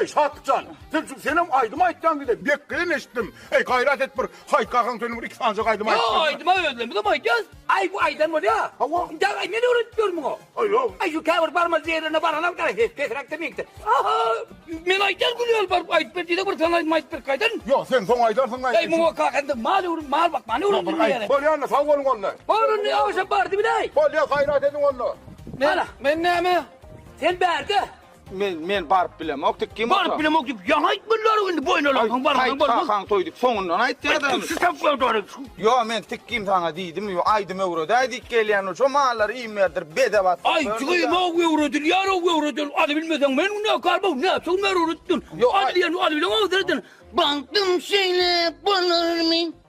Ey Şatjan, sen şu senem aýdym aýtýan gide bekleýin eşitdim. Ey gaýrat et bir haýkagan seni bir iki sanja gaýdym aýt. Ýa aýdyma özlemi de aýdýas. Aý bu aýdan bolýa. Hawa. Indi aý men öwredip ýörmüň o. Aýaw, aý şu käbir barmaz ýerlerine baran al garaý, pesräk de meňkde. Aha! Men aýdar gülýär baryp aýdyp ber diýsek bir sen aýdyp aýdyp berip gaýdan. Ýok, sen soň aýdarsyň gaý. Aý muňa kaka indi mal öwrüm mal bakmany öwrendim diýýäler. Bolýa onda sag boluň onda. Bar indi ýagşam bardy biläý. Bolýa gaýrat ediň onda. Men men näme? Sen bärde. Men men baryp bilemok diýip kim Baryp bilemok diýip ýaňa aýtmadylar indi boýun alarsyň barmagyň barmy? Hakan toýdyp soňundan aýtdy adam. Şu tapylan dary. Ýo men tik kim saňa diýdim ýo aýdym öwredäý diýip gelýän şo mallary iým berdirip bedew atdyk. Aý jigim ow öwredilýär ow öwredil aly bilmeseň men günäkar bow näçe gün öwredipdim. Ýo aly diýen aly bilen agzardyn. Bagtym şeýle bolarmy?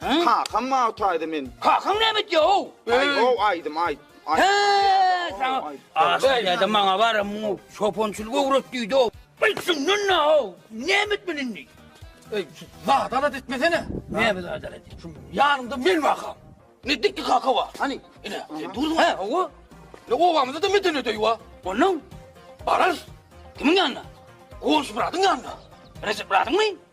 Kakam maňa taýda men. Kakaň näme etýär-ow? Aý, ow, aýdym, aýt. Hä, saňa aşhana maňa baram, muňa çopançylyk öwret diýdi-ow. Bilsinler nä-ow? Näme etmeli indi? Eý, adalat etmesene. Näme adalat? Şu ýanymda men bakam. Ne dikdi kaka wa? Hani? Ine, durma. Hä, owa. Ne owamyzda da medeni deý wa. Ondan bararys. Kimiň ýanyna? Goňşy bradyň ýanyna. Rejep bradyňmy?